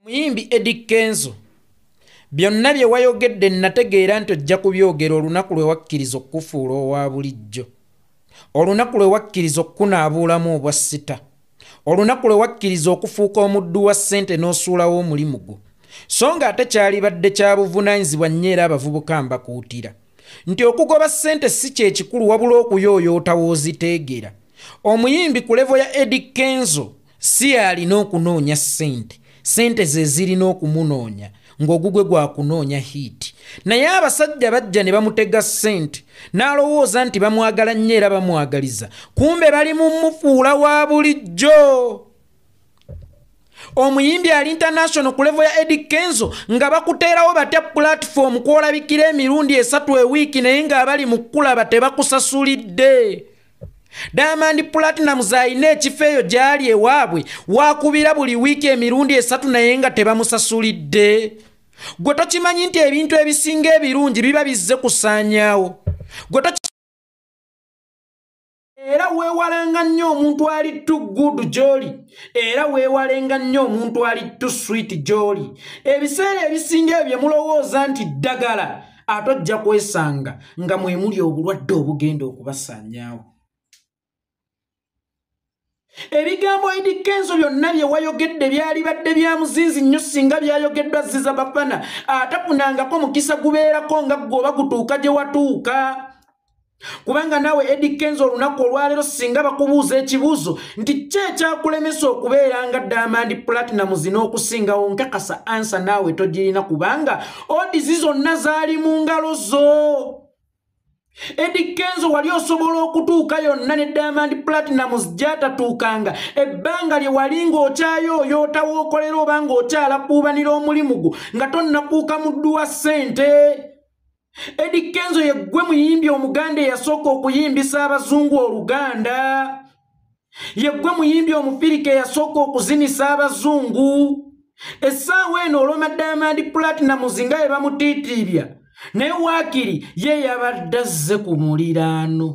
muyimbi edi kenzo byonna bye wayogedde nnategeera nti ojja kubyogera olunaku lwe wakkiriza okukufuula owa bulijjo olunaku lwe wakkiriza okukunaabuulamu obwa sita olunaku lwe wakkiriza okufuuka omuddu wa ssente n'osuulawo omulimu gwo so nga ate kyalibadde kya buvunaanyizibwa nnyo era abavubuka mbakuutira nti okugoba ssente si kyekikulu wabula okuyooyoota wooziteegera omuyimbi ku levo ya edi kenzo si alina okunoonya ssente ssente ze zirina okumunoonya ng'ogugwe gwa kunoonya hiiti naye abasajja bajja ne bamutega ssente n'alowooza nti bamwagala nnyo era bamwagaliza kumbe bali mu mufuula wa bulijjo omuyimbi ali international ku levo ya edi kenzo nga bakuteerawo batya pulatifoomu kwolabikira emirundi esatu ewiiki naye ng'abali mu kukulaba tebakusasulidde Diamond Platinumz alina ekifo eyo gy'ali ewaabwe waakubira buli wiiki emirundi esatu naye nga tebamusasulidde gwe tokimanyi nti ebintu ebisinga ebirungi biba bizze kusaanyaawo gwe era weewalanga nnyo omuntu ali tu good gyoli era weewalenga nnyo omuntu ali tu swit gyoli ebiseera ebisinga ebyo mulowooza nti ddagala ate ojja kwesanga nga mwemuli obulwadde obugenda okubasaanyaawo ebigambo idi kenzo byonna bye wayogedde byali badde bya muzinzi nnyo singa byayogeddwa ziza bafana atafunangako mukisa gubeerako nga gwe oba gutuuka gye watuuka kubanga naawe edi kenzo olunaku olwaleero singa bakubuuza ekibuuzo nti ki ekyakulemesa okubeera nga diamond platinamus n'okusingawo nkakasa ansa naawe togirina kubanga odizi zonna zaali mu ngalo zo Eddie Kenzo wali osobola okutuuka yonna ne Diamond Platinumz gyatatuukanga ebbanga lye wali ng'okyayo oyoota w'okolera oba ng'okyala kuubanira omulimu gwo nga tonnakuuka muddu wa ssente Eddie Kenzo ye ggwe muyimbi omuganda eyasooka okuyimbisa abazungu oluganda ye ggwe muyimbi omufirika eyasooka okuzinisa abazungu essaawa eno oloma diamond platinums nga ye bamutiitiibya naye waakiri ye yabadde azze ku muliraano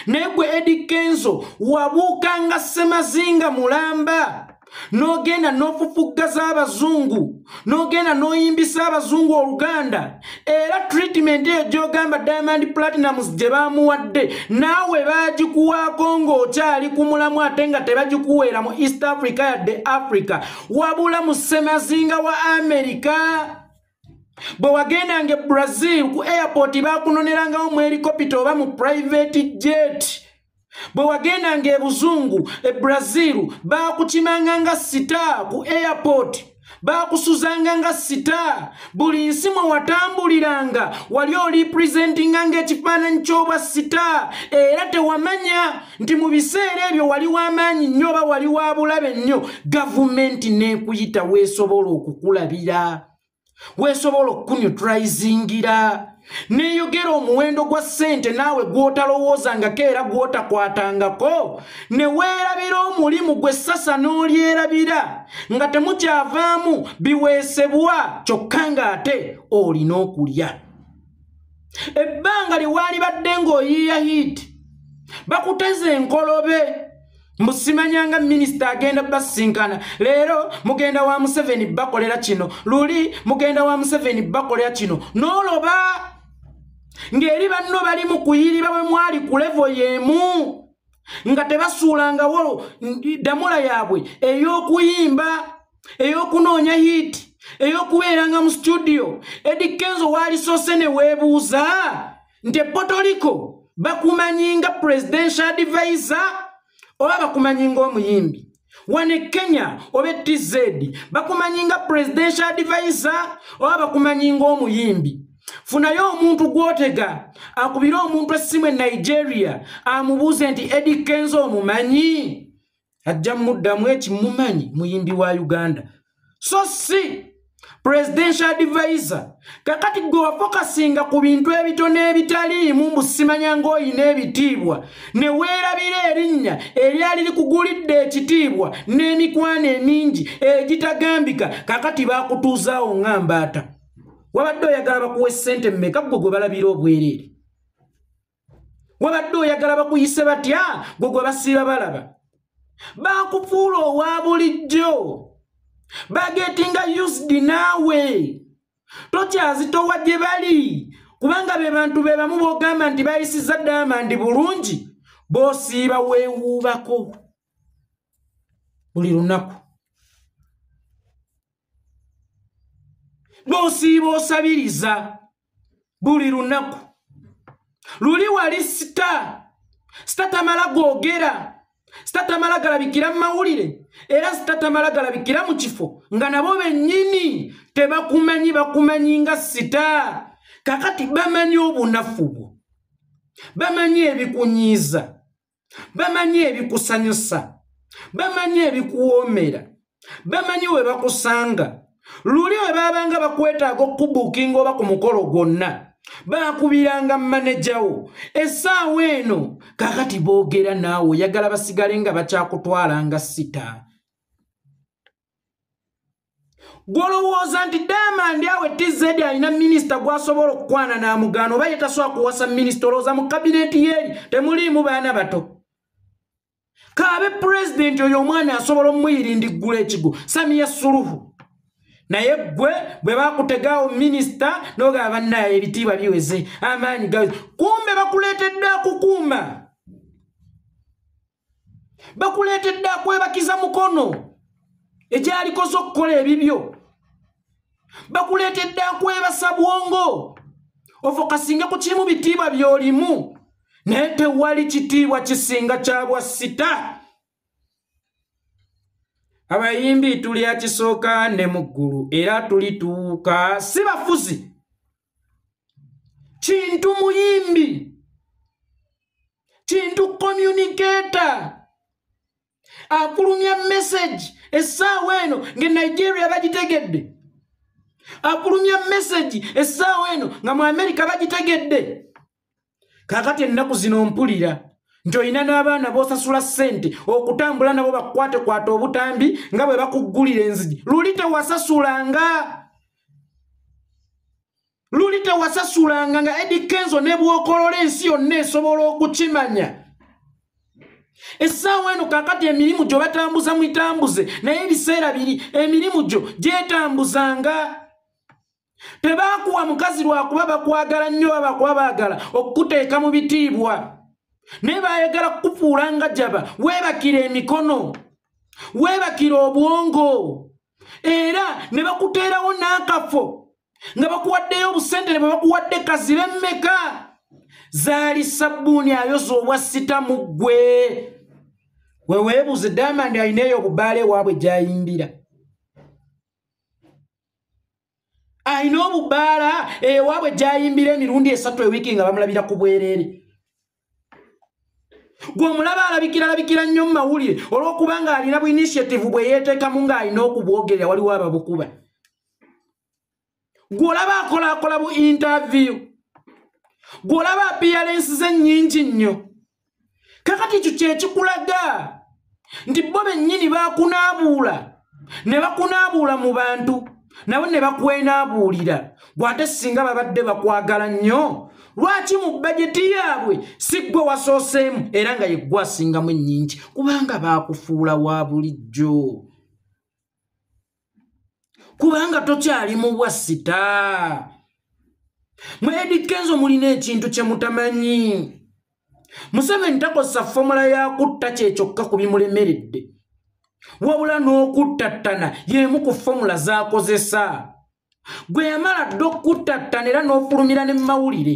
naye gwe edi kenzo wabuukanga ssemazinga mulamba n'ogenda n'ofufuggaza abazungu n'ogenda n'oyimbisa abazungu oluganda era treatment eyo gy'ogamba diamond platinums gye baamuwadde naawe baagikuwaako ng'okyali ku mulamu ate nga tebagikuweera mu east africa yadde africa wabula mu ssemazinga wa amerika bwe wagendanga e brazil ku airport baakunonerangawo mu helikopita oba mu private jet bwe wagendanga e buzungu e brazil baakukimanga nga sita ku airport baakusuzanga nga sita buli nsi mwe watambuliranga wali olipresentinga ngaekifaananyi ky'obwa sita era tewamanya nti mu biseera ebyo wali w'amaanyi nnyo oba wali wa bulabe nnyo gavumenti n'ekuyita weesobola okukulabira weesobola okukunyutrayizingira neyogera omuwendo gwa ssente naawe gw'otalowoozangako era gw'otakwatangako ne weerabira omulimu gwe sasa n'olyerabira nga temukyavaamu biweesebwa kyokka ng'ate olina okulya ebbanga lye waalibadde ng'oyiiya hiiti bakuteza enkolobe mbusimanyanga minisita agenda basinkana leero mugenda wa museveni bakolera kino luli mugenda wa museveni bakolera kino noloba ng'eri banno bali mu kuyiriba bwe mwali ku levo y'emu nga tebasuulangawo ddamula yaabwe ey'okuyimba ey'okunoonya hiiti ey'okubeeranga mu situdiyo edi kenzo waalisoose ne weebuuza nti epotoliko bakumanyi nga presidential advisor oba bakumanyi ng'omuyimbi wano ekenya oba etz bakumanyi nga presidential advisor oba bakumanyi ngaomuyimbi funayo omuntu gwotega akubire omuntu essimu e nigeria amubuuze nti edi kenza omumanyi ajja muddamu ekimumanyi muyimbi wa uganda so si presidential advisor kakati gwe wafokasinga ku bintu ebitono ebitaliimu mbu simanya ng'olina ebitiibwa ne weerabira erinnya eryali likugulidde ekitiibwa n'emikwano emingi egitagambika kakati baakutuuzaawo nga mbaata wabadde oyagala bakuwa essente mmeka ggwe gwe balabira obwereere wabadde oyagala bakuyise batya gwe gwe basiiba balaba bakufuula owa bulijjo bagetinga used naawe tokyazitowa gye bali kubanga be bantu be bamu bogamba nti bayisiza damandi bulungi bosiiba weewuubako buli lunaku bosiiba osabiriza buli lunaku luli wali sita sita tamala googera sita tamala galabikira mu mawulire era sita tamala galabikira mu kifo nga nabo bennyini tebakumanyi bakumanyi nga sita kakati bamanyi obunafu bwo bamanyi ebikunyiiza bamanyi ebikusanyusa bamanyi ebikuwoomera bamanyi we bakusanga luli we baabanga bakwetaaga okukubuukinga oba ku mukolo gwonna baakubiranga manejawo essaawa eno kakati boogera naawe oyagala basigale nga bakyakutwalanga sita gwolowooza nti diamond awe tz alina minisita gwasobola okukwana namugaana oba yetasobola kuwasa minisita olowooza mu kabineti yeeri temuliimu baana bato kaabe pulezidenti oyo omwana asobola omuyirindiggula ekigo samiya suluhu naye gwe bwe bakutegaawo minisita nogaba bannaye ebitiibwa biweze amaanyi gawe kumbe bakuleetedde akukuuma bakuleetedde akwebakiza mukono egyalikoze okukola ebibyo bakuleetedde akwebasa bwongo ofokasinge ku kirimu bitiibwa byolimu naye tewali kitiibwa kisinga kyabwa sita abayimbi tuli akisooka ne mu ggulu era tulituuka si bafuzi kintu muyimbi kintu communicator akulumya message essaawa eno nga nigeria bagitegedde akulumya message essaawa eno nga mu amerika bagitegedde kakati ennaku zino mpulira nti olina n'abaana b'osasula ssente okutambula nabo bakukwatekwata obutambi nga bwe bakuggulira enzigi luli tewasasulanga luli tewasasulanga nga edi kenzo ne bwokolola ensi yonna esobola okukimanya essaawa eno kakati emirimu gyo batambuza muitambuze naye ebiseera biri emirimu gyo gyetambuzanga tebaakuwa mukazi lwakuba bakwagala nnyo oba bakuba baagala okukuteeka mu bitiibwa naye baayagala kukufuula nga jaba weebakira emikono weebakira obwongo era ne bakuteerawo n'akafo nga bakuwaddeyo obusentene bwe bakuwadde kazibe mmeka zaali sabbuuni ayoza obwa sita mu ggwe weweebuuze damandi alina eyo obubaala ewaabwe gy'ayimbira alina obubaala ewaabwe gyayimbira emirundi esatu ewiiki nga bamulabira ku bwereere gwe omulaba alabikira alabikira nnyo mu mawulire olw'okuba ng'alina bu initiative bwe yeeteekamu ng'alina okubwogerera waliwo ababukuba gwe olaba akolaakola bu interview gwe olaba appearance ze nnyingi nnyo kakati ekyo kyekikulaga nti bo bennyini bakunaabuula ne bakunaabuula mu bantu nabo ne bakwenaabuulira gwate singa babadde bakwagala nnyo lwaki mu bajeti yaabwe si ggwe wasooseemu era nga yeggwe asingamu ennyingi kubanga baakufuula wa bulijjo kubanga tokyali mubwa sita mwedikenzo mulina ekintu kyemutamanyi museveni takozesa fomula yakutta kyekyokka ku bimulemeredde wabula n'okuttattana y'emu ku fomula z'akozesa gwe yamala dda okukuttattana era n'ofulumira ne mumawulire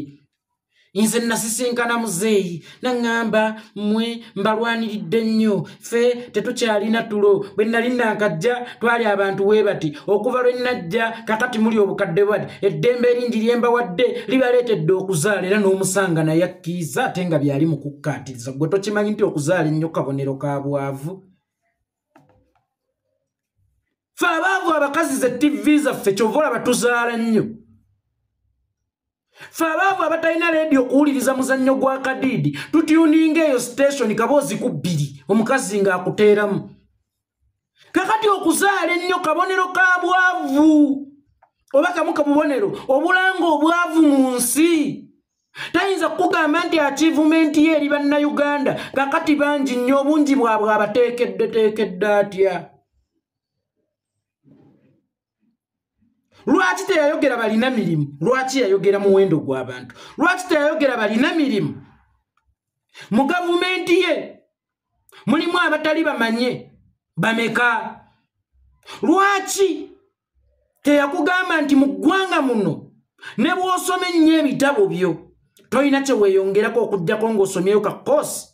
nze nasisinkana muzeeyi naŋŋamba mmwe mbalwaniridde nnyo ffe tetukyalina tulo bwe nnali nankajja twali abantu we bati okuva lwe nnajja kakati muli obukadde bwati eddembe eringi lye mbawadde libaleetedde okuzaala era n'omusanga naye akkiiza ate nga byali mu kukkaatiriza gwe tokimanyi nti okuzaala ennyo kabonero ka bwavu fe abaavu abakazi ze tivi zaffe kyova olaba tuzaala nnyo fe abaavu abatalina leediyo okuwuliriza muzannyo gwa kadiidi tutyuninga eyo sitationi kaboozi ku bbiri omukazi ng'akuteeramu kakati okuzaala ennyo kabonero ka bwavu oba kamu kabubonero obulanga obwavu mu nsi tayinza kukugamba nti achievementi ye eri bannayuganda kakati bangi nnyo obungi bwabwe abateekeddeteekedde atya lwaki teyayogera balina mirimu lwaki yayogera muwendo gw'abantu lwaki teyayogera balina mirimu mu gavumenti ye mulimu abatali bamanye bameka lwaki teyakugamba nti mu ggwanga muno ne bw'osoma ennyo ebitabo byo tolina kye weeyongerako okuggyako ng'osomyeyo ka koosi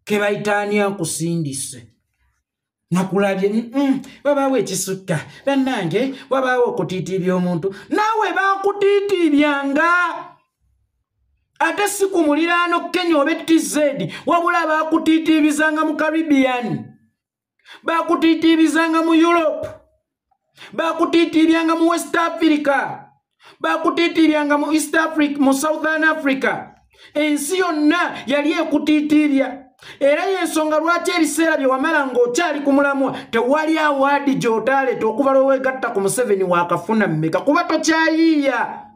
ke bayitaani akusindise nakulabye wabaawo ekisutta bannange wabaawo okutiitiibya omuntu naawe baakutiitiibyanga ate si ku muliraano kenya oba ettizedi wabula baakutiitiibizanga mu caribbean bakutiitiibizanga mu europe bakutiitiibyanga mu west africa bakutiitiibyanga mu east africa mu southern africa ensi yonna yali ekutiitiibya era yensonga lwaki ebiseera bye wamala ng'okyali ku mulamwa tewali awaadi gy'otaaleeta okuva lweweegatta ku museveni waakafuna mmeka kuba tokyayiiya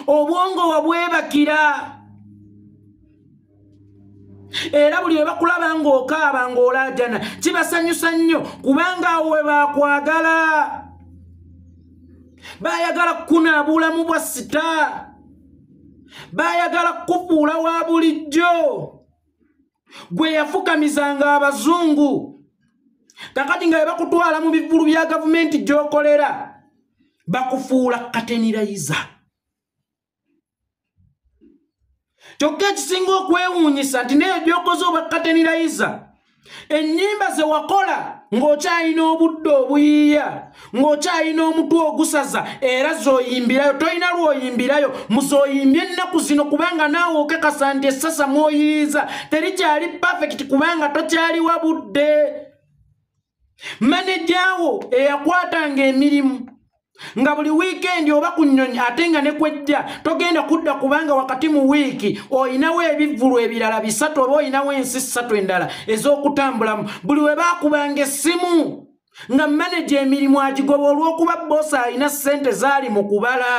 obwongo wabwebakira era buli webakulaba ng'okaaba ng'olaajana kibasanyusa nnyo kubanga awo we baakwagala baayagala kukuna bulamu bwa sita baayagala kukufuula wa bulijjo gwe yafukamizanga abazungu kakati nga bebakutwala mu bivulu bya gavumenti gyokolera bakufuula katenirayiza kyokka ekisinga okwewuunyisa nti neyo gyokoze oba katenirayiza ennyimba ze wakola ng'okyalina obudde obuyiiya ng'okyalina omutwe ogusaza era zoyimbirayo tolina lwoyimbirayo muzoyimbye ennaku zino kubanga naawe okekasa nti essasa mwoyiriza terikyali pafekiti kubanga tokyaliwa budde manejawo eyakwatanga emirimu nga buli wiikendi oba ku nnyonyi ate nga ne kwejja togenda kudda kubanga wakati mu wiiki olinawo ebivvulu ebirala bisatu oba olinawo ensi ssatu endala ez'okutambulamu buli we baakubanga essimu nga maneja emirimu agigoba olw'okuba boosi alina ssente zaali mu kubala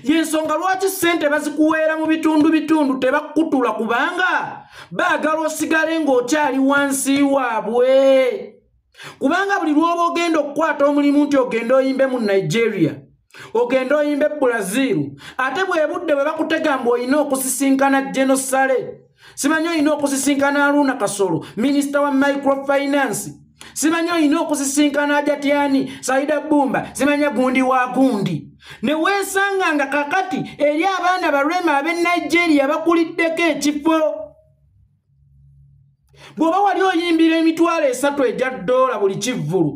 yensonga lwaki sente bazikuweera mu bitundu bitundu tebakutula kubanga baagala osigale ng'okyali wansi waabwe kubanga buli lwoba ogenda okukwata omulimu nti ogenda oyimbe mu nigeria ogenda oyimbe bulaziru ate bwebudde bwe bakutegamba olina okusisinkana genosale simanyi olina okusisinkana aluuna kasolo minisita wa microfinance simanyi olina okusisinkana ajatyani saida bumba simanya gundi wa gundi neweesanga nga kakati eri abaana balwema ab'e nigeria bakuliddeko ekifo bw'oba wali oyimbira emitwalo esatu egya ddoola buli kivvulu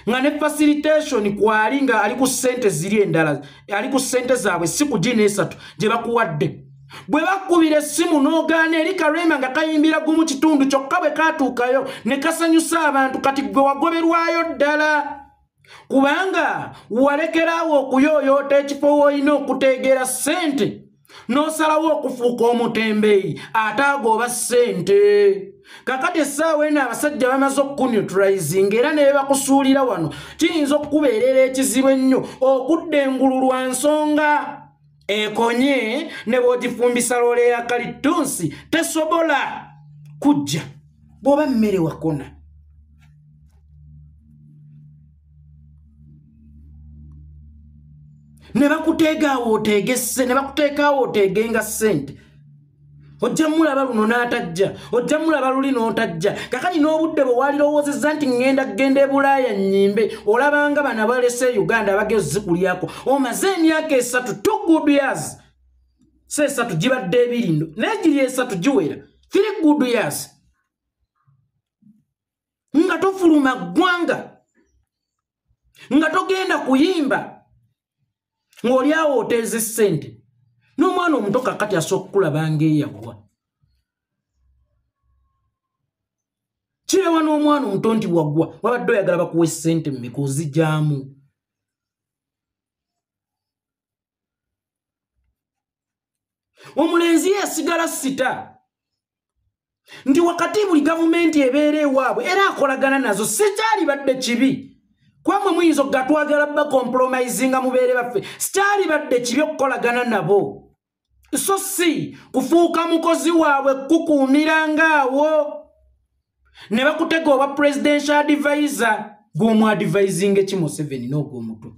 nga ne facilitation kwali nga ali ku sente ziri endala ali ku sente zaabwe si ku gina esatu gye bakuwadde bwe bakkubira essimu n'ogaana eri karema nga kayimbira gumu kitundu kyokka bwe kaatuukayo ne kasanyusa abantu kati gwe wagoberwayo ddala kubanga walekeraawo okuyooyoota ekifo woolina okuteegera ssente n'osalawo okufuuka omutembeyi ate agooba ssente kakati essaawa eno abasajja bamaze okukunetraisinga era ne bebakusuulira wano kiyinza okukubeerera ekizibu ennyo okudda engulu lwa nsonga ekonye ne bwogifumbisa loola eya kalittunsi tesobola kujja bw'oba mmere wakona ne bakuteegaawo oteegesse ne bakuteekaawo oteegenga ssente ojja mulaba luno n'atajja ojja mulaba luli n'otajja kakati n'obudde bwe walirowoozezza nti ŋŋenda kugenda ebulaaya nnyimbe olabanga bana balese e uganda abageo zikulyako omaze emyaka esatu two good years si esatu gibadde ebirindo naye giri esatu giwera three good years nga tofuluma ggwanga nga togenda kuyimba ng'oli awo oteeza essente n'omwana omuto kakati asooka okulaba ngaeyaggwa kirewa n'omwana omuto nti waggwa wabadde oyagala bakuwa essente mumeka ozigyamu omulenzi yasigala sita nti wakati buli gavumenti ebeera ewaabwe era akolagana nazo sikyalibadde kibi kwamwe muyinza okugatwagala bakompromisinga mubeere baffe sikyalibadde kibi okukolagana nabo so si kufuuka mukozi waabwe kukuumira ngaawo ne bakutega oba presidential advisor gw'omu advising ekimuseveni n'ogw'omutwe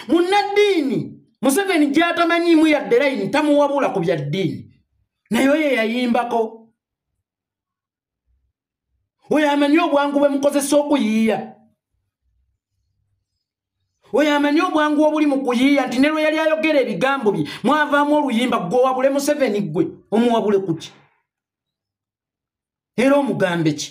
munnaddiini museveni gyatamanyiimu yadde layini tamuwabula ku bya ddiini naye oyo eyayimbako oyo amanyi obwangu bwe mukozesa okuyiiya oyo amanyi obwangu obuli mu kuyiiya nti ne lwe yali ayogera ebigambo bye mwavaamu oluyimba gwe owabule museveni gwe omuwabule kuki era omugambe ki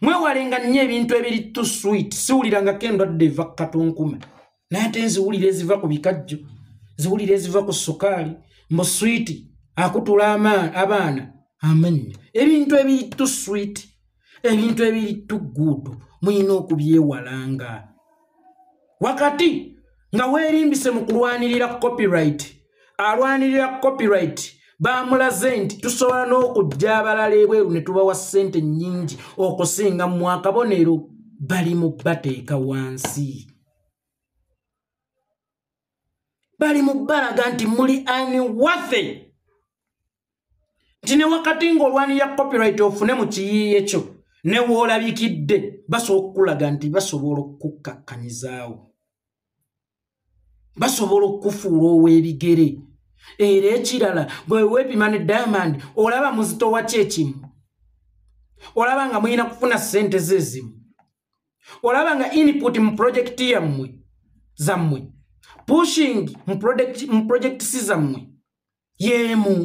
mwewalenga nnyo ebintu ebiri to sweet siwuliranga ke ndwadde eva ku katunkume naye ate nziwulira eziva ku bikajjo ziwulira eziva ku sukaali mbu swiiti akutula abaana amanya ebintu ebiri to sweet ebintu ebiri to good muyina okubyewalanga wakati nga weerimbise mu kulwanirira copyright alwanirira copyright bamulaze nti tusobola n'okujja abalala ebweru ne tubawa ssente nnyingi okusinga mu akabonero bali mu bateeka wansi bali mu balaga nti muli ani wathe nti ne wakati ng'olwanira copyright ofune mu kiyiiye kyo ne woolabikidde basobola okukulaga nti basobola okukukkakkanizaawo basobola okukufuula ow'ebigere era ekirala bwe weepima ne diamond olaba muzito waki ekimu olaba nga mulina kufuna ssente ze ezimu olaba nga input mu projekiti yammwe zammwe pushing mu projekiti si zammwe yeemu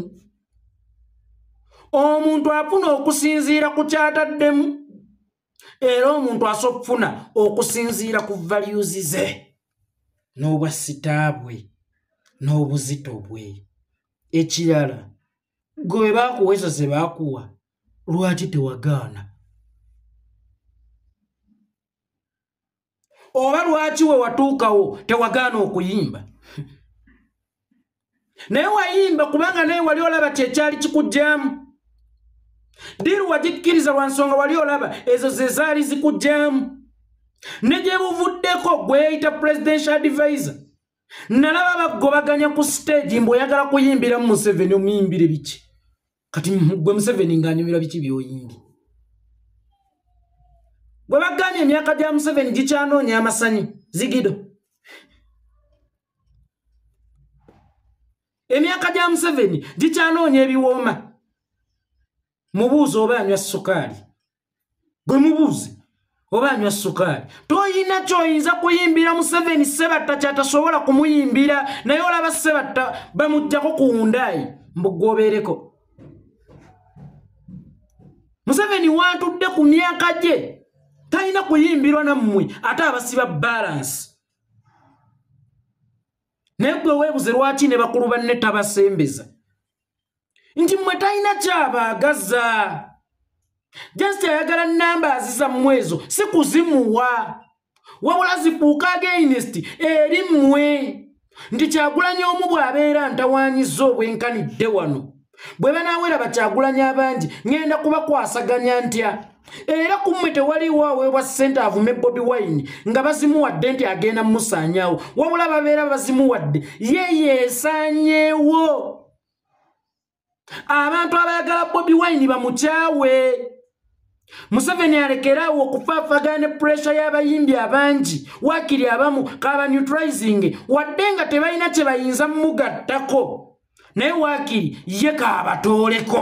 omuntu afuna okusinziira ku kyataddemu era omuntu asobola okufuna okusinziira ku valuzi ze n'obwa sitaabwe n'obuzito bwe ekirala gwe bwe baakuwa ezo ze baakuwa lwaki tewagaana oba lwaki we watuukawo tewagaana okuyimba naye wayimba kubanga naye wali olaba kyekyali kikugyamu diru wagikkiriza lwa nsonga wali olaba ezo ze zaali zikugyamu ne gye buvuddeko gweyayita presidential advisor nalaba bagobaganya ku stage mbu oyagala kuyimbiramu museveni omuyimbire biki kati gwe museveni ngaanyumira biki byoyimbye bwe bagambye emyaka gya museveni gikyanoonya amasanyu zigido emyaka gya museveni gikyanoonya ebiwooma mubuuzi oba anywa sukaali gwe mubuuze oba anywa sukaali toyina kyoyinza kuyimbira museveni sebatta kyatasobola kumuyimbira naye olaba sebatta bamugjako kuwundaayi mbugwobeereko museveni wantudde ku myaka gye talina kuyimbirwa nammwe ate abasiba balansi naye gwe weebuze lwaki ne bakulu banne tabasembeza nti mwe talina kyabaagaza just ayagala namba aziza mumwezo si kuzimuwa wabula zifuuka againist eri mmwe nti kyagulanya omu bw'abeera ntawanyiza obwenkanidde wano bwe banaaweraba kyagulanya abangi ŋŋenda kubakwasaganya ntya era ku mmwe tewaliwo aweebwa ssente avume bobi wine nga bazimuwadde nti agenda mumusaanyawo wabula babeera bazimuwadde ye yeesaanyeewo abantu abayagala bobi wine bamukyawe museveni alekeraawo okufaafagana ne puresha y'abayimbi abangi waakiri abamu kaba neutralizing wadde nga tebalina kye bayinza mumugattako naye waakiri ye kaabatooleko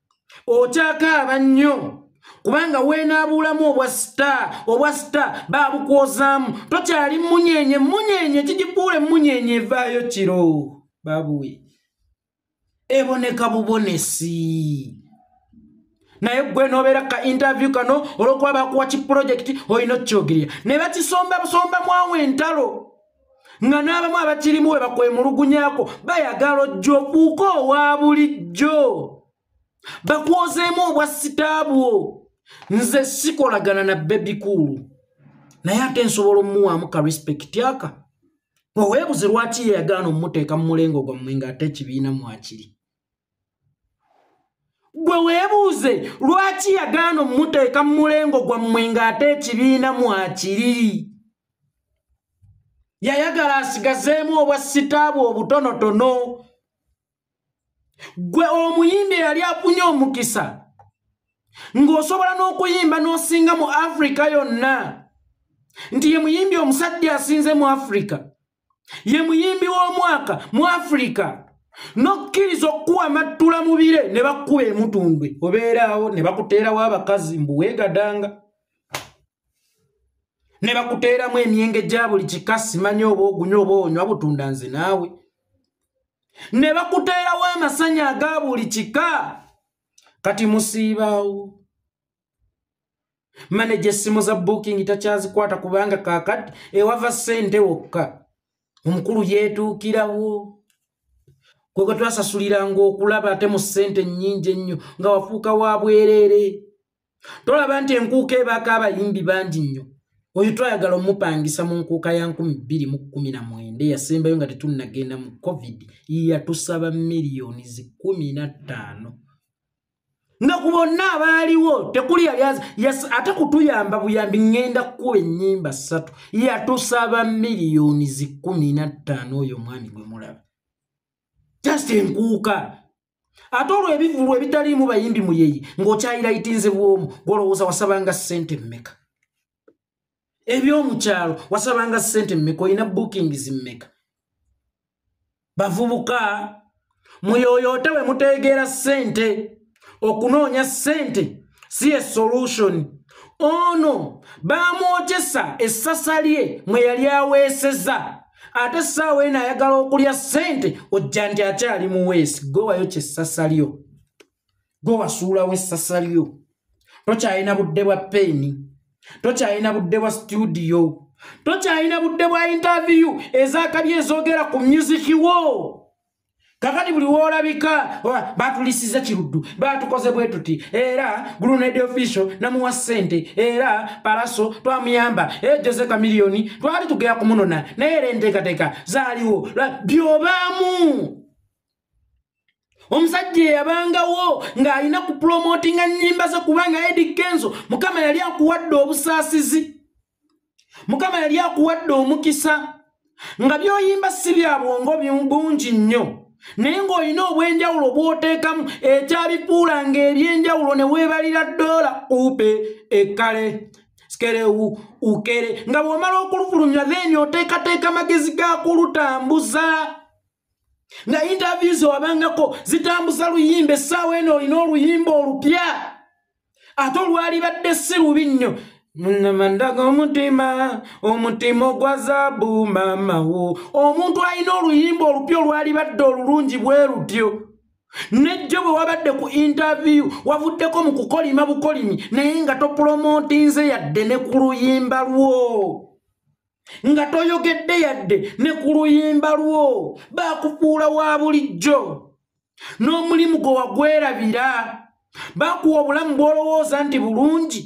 okyakaaba nnyo kubanga weenaabuulamu obwa sita obwa sita baabukwozaamu tokyali munyenye munyenye kigifuula emunyenye evaayo kiro baabuwe eboneka bubonesi naye gwe nobeera ka interview kano olwokuba bakuwa ki pulojekiti olina okukyogerera ne bakisomba busomba mwawo entalo nga n'abamu abakirimu we bakwemulugunyako bayagala ojja okuuka owa bulijjo bakwozeemu obwa sitaabwo nze sikolagana na bebikuulu naye ate nsobola omuwaamu ka respect aka oweebuze lwaki yeyagaana omumuteeka mu mulengo gwammwe ng'ate ekibiina mwakiri gwe weebuuze lwaki yagaana omumuteeka mu mulengo gwammwe ng'ate ekibiina mwakiri yayagala asigazeemu obwa sitaabwe obutonotono gwe omuyimbi eyali afunye omukisa ng'osobola n'okuyimba n'osinga mu afirika yonna nti ye muyimbi omusajja asinze mu afirika ye muyimbi w'omwaka mu afirika n'okkiriza okukuwa amattula mu bire ne bakukuba emutundwe obeeraawo ne bakuteerawo abakazi mbu weegadanga ne bakuteeramu emyenge gya buli kika simanyi oba ogunywa oba onywa butunda nze naawe ne bakuteerawo amasanya aga buli kika kati musiibaawo maneja essimu za booking takyazikwata kubanga kakati ewava ssente wokka omukulu yeetuukirawo kwe kwe twasasuliranga okulaba ate mu ssente nnyingi ennyo nga wafuuka wa bwereere tolaba nti enkuuka ebaako abayimbi bangi nnyo oyo twayagala omupangisa mu nkuuka ya 219 eyasembayo nga tetunnagenda mu covid yatusaba miliyoni zi 15 nga ku bonna abaaliwo tekuli yali ate kutuyamba buyambi ŋŋenda kukuba ennyimba ssatu yatusaba miliyoni zikumi na ttaano oyo omwami gwe mulaba just enkuuka ate olwo ebivulu ebitaliimu bayimbi muyeyi ng'okyayirayitinze bwomu gwolowooza wasabanga ssente mmeka ebyomukyalo wasabanga sente mmeka olina bookings mmeka bavubuka muyoyoote we mutegeera sente okunoonya sente si ye solution ono bamwotesa essasa lye mwe yali aweeseza ate essaawa eno ayagala okulya ssente ojja nti akyali muweesi gwewayo kyessasa lyo gwe wasuulawo essasa lyo tokyalina budde bwa peeni tokyalina budde bwa situdiyo tokyalina budde bwa intaviyu ezakabi ezoogera ku myuziki wo kakati buli woolabika batulisiza kiruddu batukoze bwe tuti era gruned official namuwa ssente era palaso twamuyamba e jose kamiliyoni twali tugera kumunona naye era enteekateeka zaaliwo byobaamu omusajja eyabangawo ng'alina ku pulomotinga nnyimba ze kubanga edi kenzo mukama yali akuwadde obusaasizi mukama yali akuwadde omukisa nga byoyimba si bya bwongo bungi nnyo naye ng'olina obw'enjawulo bw'oteekamu ekyabifuula ng'eby'enjawulo ne weebalira ddoola uupe ekkale skerewu ukere nga bw'omala okulufulumya then oteekateeka amagezi g'akulutambuza nga yintaviyu zewabangako zitambuza luyimba essaawa eno olina oluyimba olupya ate olwalibadde si lubi nnyo munamandaga omutima omutima ogwa zaabu maamawo omuntu alina oluyimba olupya olwalibadde olulungi bwe lutyo nejjo bwe wabadde ku intaviyu wavuddeko mu kukolima bukolimi naye nga topulomootinze yadde ne ku luyimba lwo nga toyogedde yadde ne ku luyimba lwo baakufuula wa bulijjo n'omulimu gwe wagwerabira baakuwa obulamu bw'olowooza nti bulungi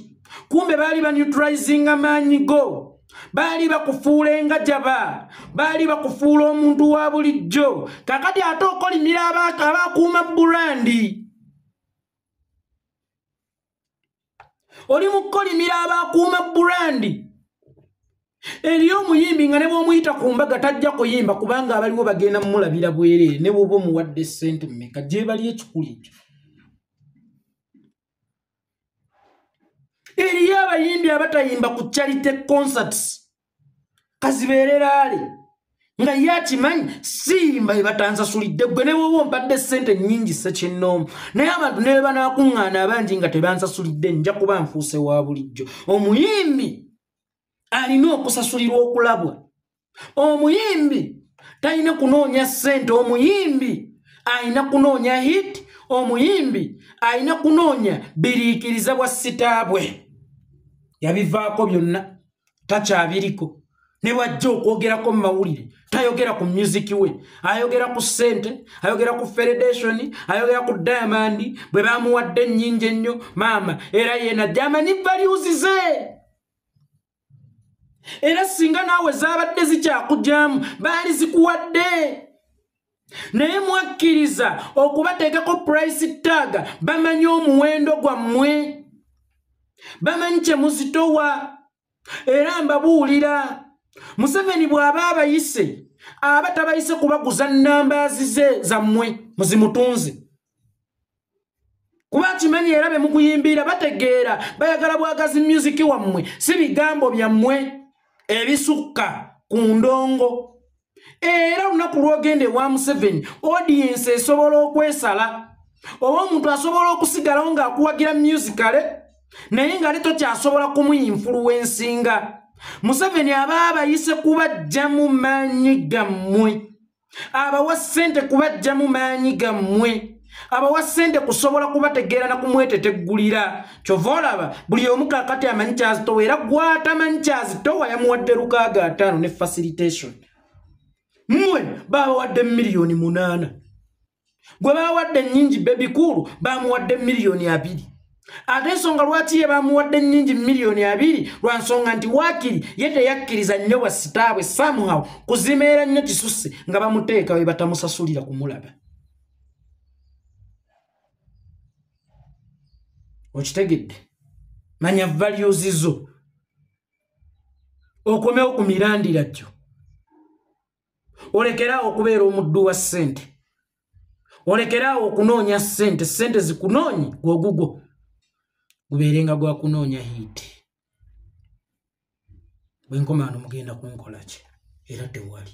kumbe baali banutrizinga maanyi go baali bakufuula engajaba baali bakufuula omuntu wa bulijjo kakati ate okolimira abaakuuma burandi oli mukolimira abakuuma burandi eriyo omuyimbi nga ne bwomuyita ku mbaga tajja kuyimba kubanga abaliwo bagenda mumulabira bwerere ne bwoba omuwadde sente mumeka gyebali ekikulu ekyo eriyo abayimbi abatayimba ku charity concerts kazibeereraale nga ye akimanyi simba ebatansasulidde gwe newoba ompadde ssente nnyingi sekinnoomu naye abantu ne bebanakuŋŋaana abangi nga tebansasulidde nja kuba nfuuse wa bulijjo omuyimbi alina okusasulirwa okulabwa omuyimbi talina kunoonya ssente omuyimbi alina kunoonya hit omuyimbi alina kunoonya biriikiriza bwa sitaabwe yabivaako byonna takyabiriko ne bwajja okwogerako mu mawulire tayogera ku musiki we ayogera ku ssente ayogera ku federation ayogera ku diamond bwe bamuwadde ennyingi ennyo maama era yena jamanyi valuuzize era singa naawe zaabadde zikyakugyamu baali zikuwadde naye mwakkiriza okubateekako price tag bamanyi omuwendo gwammwe bamanyi kye muzitowa era mbabuulira museveni bw'aba abayise aba tabayise kubaguza nnambaazi ze zammwe muzimutunzi kuba akimanyi era be mukuyimbiira bategeera bayagala bwagazi myuziki wammwe si bigambo byammwe ebisukka ku ndongo era olunaku lwogenda ewa museveni odiyensi esobola okwesala oba omuntu asobola okusigalawo ng'akuwagira myuzikale naye nga leto kyasobola kumuyinfuluwensinga museveni aba abayise kubajja mu maanyi gammwe abawa ssente kubajjamu maanyi gammwe abawa ssente kusobola kubategeera na kumweteteggulira kyova olaba buli omu kakati amanyi kyazitowa era gwatamanyi kyazitowa yamuwadde lukaaga ataano ne facilitation mmwe baabawadde miliyoni munaana gwe bawadde nnyingi bebikuulu bamuwadde miliyoni abiri ate ensonga lwaki ye bamuwadde nnyingi miliyoni abiri lwa nsonga nti waakiri ye teyakkiriza nnyo bwa sitaabwe samuhaw kuzimeera nnyo kisusse nga bamuteeka we batamusasulira kumulaba okitegedde manya values zo okomewo ku mirandira gyo olekeraawo okubeera omuddu wa ssente olekeraawo okunoonya ssente ssente zikunoonyi gwogugwo gubeere nga gwakunoonya hiiti bwenkomaano mugenda kunkolaki era tewali